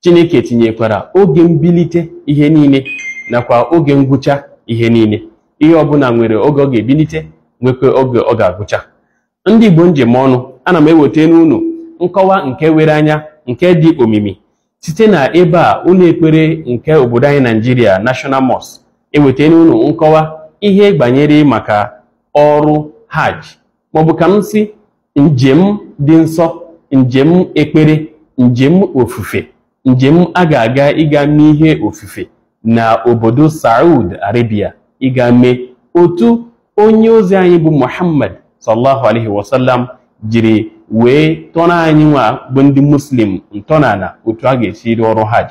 Chineke tinyekwara oge mbilite ihe niile nakwa oge ngwụcha ihe niile. Ihe ọbụla nwere oge ọ ga-ebilite nwekwa oge ọ ga-agwụcha. Ndị Igbo m ji eme ọnụ, ana m eweta n'unu nkọwa nke were anya nke dị omimi site na ebe a ụlọ ekpere nke obodo anyị Naijiria National Mosque eweta n'unu nkọwa ihe gbanyere maka ọrụ hajj maọbụ ka m si njem dị nsọ njem ekpere njem ofufe njem a ga-aga ịga mee ihe ofufe na obodo Saudi Arabia ịga mee otu onye ozi anyị bụ Muhammad sallallahu alaihi wasallam jiri wee tọrọ anyị nwa bụ ndị muslim ntọala otu a ga-esi rụọ ọrụ hajj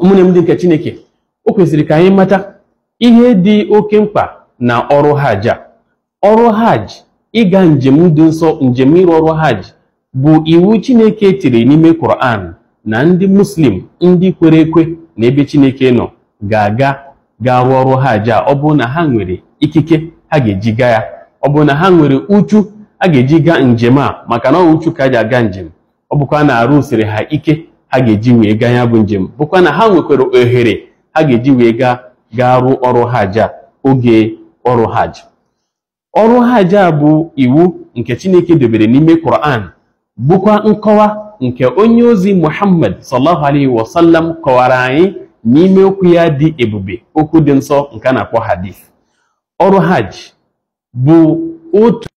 ụmụnne m ndị nke chineke o kwesịrị ka anyị mata ihe dị oke mkpa na ọrụ hajj a ọrụ hajj ịga njem dị nsọ njem ịrụ ọrụ hajj bụ iwu chineke tiri n'ime Quran na ndị muslim ndị kwere ekwe na ebe chineke nọ ga-aga ga-arụ ọrụ hajj a ọ bụrụ na ha nwere ikike ha ga-eji gaa ya ọ bụrụ na ha nwere uchu a ga-eji gaa njem a maka na ọ uchu ka a ji aga njem ọ bụkwa na arụ siri ha ike ha ga-eji wee gaa ya bụ njem bụkwa na ha nwekwara ohere ha ga-eji wee gaa gaa rụọ ọrụ hajj a oge ọrụ hajj ọrụ hajj a bụ iwu nke Chineke dobere n'ime Quran bụkwa nkọwa nke onye ozi Muhammad sallallahu alaihi wasallam kọwara anyị n'ime okwu ya dị ebube okwu dị nsọ nke a na-akpọ hadith ọrụ hajj bụ otu